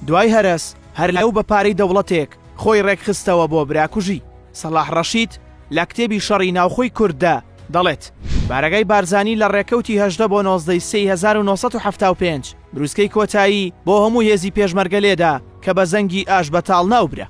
دوای هەرەس هەر لەو بە پارەی دەوڵەتێک خۆی ڕێکخستەوە بۆ براکوژی، سەڵاح ڕەشید لە کتێبی شەڕی ناوخۆی کورددا دەڵێت، بارەگای بارزانی لە ڕێکەوتی هەژدە بۆ نۆزدە ی سێی هەزار و نۆ سەد و حەفتا و پێنج بروسکەی کۆتایی بۆ هەموو هێزی پێشمەرگە لێدا کە بە زەنگی ئاشبەتاڵ ناوبرا.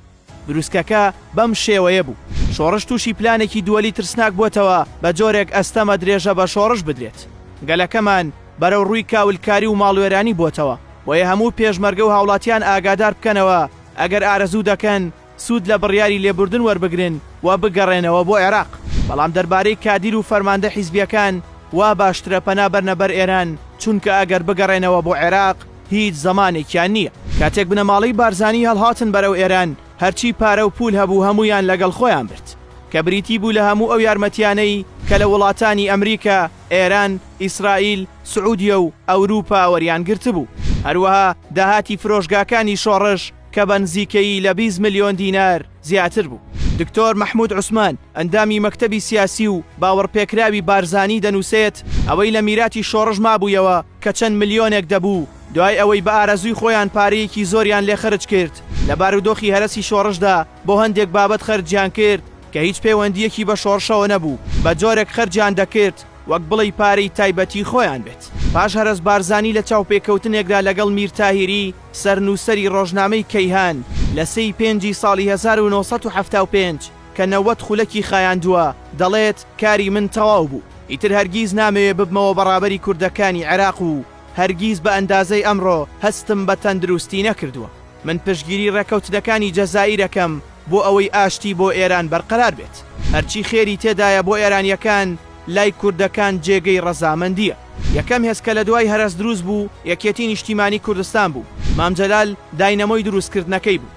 بروسکەکە بەم شێوەیە بوو. شۆڕش تووشی پلانێکی دووەلی ترسناک بووەتەوە بە جۆرێک ئەستەمە درێژە بە شۆڕش بدرێت. گەلەکەمان بەرەو ڕووی کاولکاری و ماڵوێرانی بۆتەوە، بۆیە هەموو پێشمەرگە و هاوڵاتیان ئاگادار بکەنەوە ئەگەر ئارەزوو دەکەن سوود لە بڕیاری لێبوردن وەربگرن و بگەڕێنەوە بۆ عێراق. بەڵام دەربارەی کادیر و فەرماندە حیزبییەکان وا باشترە پەنا بەرنە بەر ئێران، چونکە ئەگەر بگەڕێنەوە بۆ عێراق، هیچ زەمانێکیان نییە. کاتێک بنەماڵەی بارزانی هەڵهاتن بەرەو ئێران، هەرچی پارە و پوول هەبوو هەموویان لەگەڵ خۆیان برد، کە بریتی بوو لە هەموو ئەو یارمەتییانەی کە لە وڵاتانی ئەمریکا، ئێران، ئیسرائیل، سعودیە و ئەوروپا وەریان گرتبوو. هەروەها داهاتی فرۆشگاکانی شۆڕش کە بە نزیکەیی لە بیست ملیۆن دینار زیاتر بوو. دکتۆر مەحموود عوسمان، ئەندامی مەکتەبی سیاسی و باوەڕپێکراوی بارزانی دەنووسێت، ئەوەی لە میراتی شۆڕش مابوویەوە کە چەند ملیۆنێک دەبوو، دوای ئەوەی بە ئارەزووی خۆیان پارەیەکی زۆریان لێ خەرج کرد، لە بارودۆخی هەرەسی شۆڕشدا بۆ هەندێک بابەت خەرجیان کرد کە هیچ پەیوەندییەکی بە شۆڕشەوە نەبوو، بە جۆرێک خەرجیان دەکرد وەک بڵێی پارەی تایبەتی خۆیان بێت. پاش هەرەس بارزانی لە چاوپێکەوتنێکدا لەگەڵ میر تاهیری سەرنووسەری ڕۆژنامەی کەیهان لە سێی پێنجی ساڵی هەزار و نۆ سەد و حەفتا و پێنج، کە نەوەد خولەکی خایاندووە، دەڵێت، کاری من تەواو بوو، ئیتر هەرگیز نامەوێ ببمەوە بە ڕابەری کوردەکانی عێراق و هەرگیز بە ئەندازەی ئەمڕۆ هەستم بە تەندروستی نەکردووە. من پشتگیری ڕێککەوتنەکانی جەزائیر ئەکەم بۆ ئەوەی ئاشتی بۆ ئێران بەرقەرار بێت. هەرچی خێری تێدایە بۆ ئێرانییەکان، لای کوردەکان جێگەی ڕەزامەندییە. یەکەم هێز کە لە دوای هەرەس دروست بوو، یەکێتی نیشتیمانی کوردستان بوو. مام جەلال داینەمۆی دروستکردنەکەی بوو.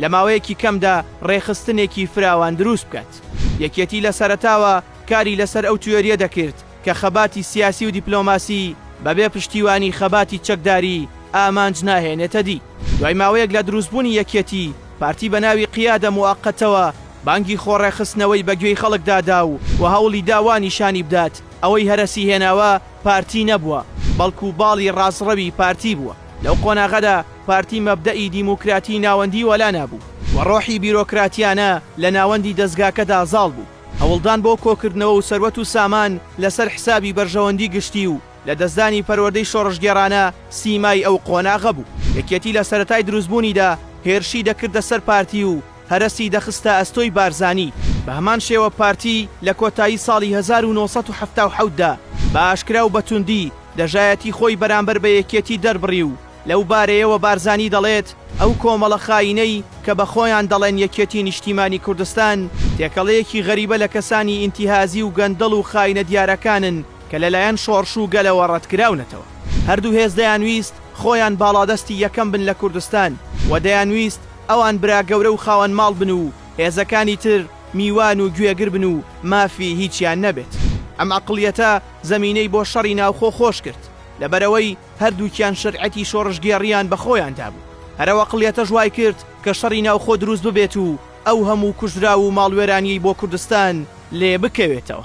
لە ماوەیەکی کەمدا ڕێکخستنێکی فراوان دروست بکات. یەکێتی لە سەرەتاوە کاری لەسەر ئەو تیۆرییە دەکرد کە خەباتی سیاسی و دیپلۆماسی بەبێ پشتیوانی خەباتی چەکداری ئامانج ناهێنێتە دی. دوای ماوەیەک لە دروستبوونی یەکێتی، پارتی بە ناوی قیادە موئەقەتەوە بانگی خۆڕێکخستنەوەی بە گوێی خەڵکدا دا و هەوڵی دا وا نیشانی بدات ئەوەی هەرەسی هێناوە پارتی نەبووە، بەڵکو باڵی ڕاستڕەوی پارتی بووە. لەو قۆناغەدا، پارتی مەبدەئی دیموکراتیی ناوەندی وەلا نابوو و ڕۆحی بیرۆکراتییانە لە ناوەندی دەزگاکەدا زاڵ بوو. هەوڵدان بۆ کۆکردنەوە و سەروەت و سامان لەسەر حسابی بەرژەوەندی گشتی و لەدەستدانی پەروەردەی شۆڕشگێڕانە سیمای ئەو قۆناغە بوو. یەکێتی لە سەرەتای دروستبوونیدا هێرشی دەکردە سەر پارتی و هەرەسی دەخستە ئەستۆی بارزانی. بە هەمان شێوە پارتی لە کۆتایی ساڵی هەزار و نۆ سەد و حەفتا و حەوت دا بە ئاشکرا و بە توندی دژایەتی خۆی بەرامبەر بە یەکێتی دەربڕی و لەو بارەیەوە بارزانی دەڵێت، ئەو کۆمەڵە خاینەی کە بە خۆیان دەڵێن یەکێتی نیشتیمانی کوردستان، تێکەڵەیەکی غەریبە لە کەسانی ئینتیهازی و گەندەڵ و خاینە دیارەکانن کە لەلایەن شۆڕش و گەلەوە ڕەتکراونەتەوە. هەردوو هێز دەیانویست خۆیان باڵادەستی یەکەم بن لە کوردستان و دەیانویست ئەوان برا گەورە و خاوەن ماڵ بن و هێزەکانی تر میوان و گوێگر بن و مافی هیچیان نەبێت. ئەم عەقڵیەتە زەمینەی بۆ شەڕی ناوخۆ خۆش کرد، لەبەرئەوەی هەردووکیان شەرعەتی شۆڕشگێڕییان بە خۆیاندا بوو. هەر ئەو عەقڵیەتەش وای کرد کە شەڕی ناوخۆ دروست ببێت و ئەو هەموو کوژراو و ماڵوێرانییەی بۆ کوردستان لێ بکەوێتەوە.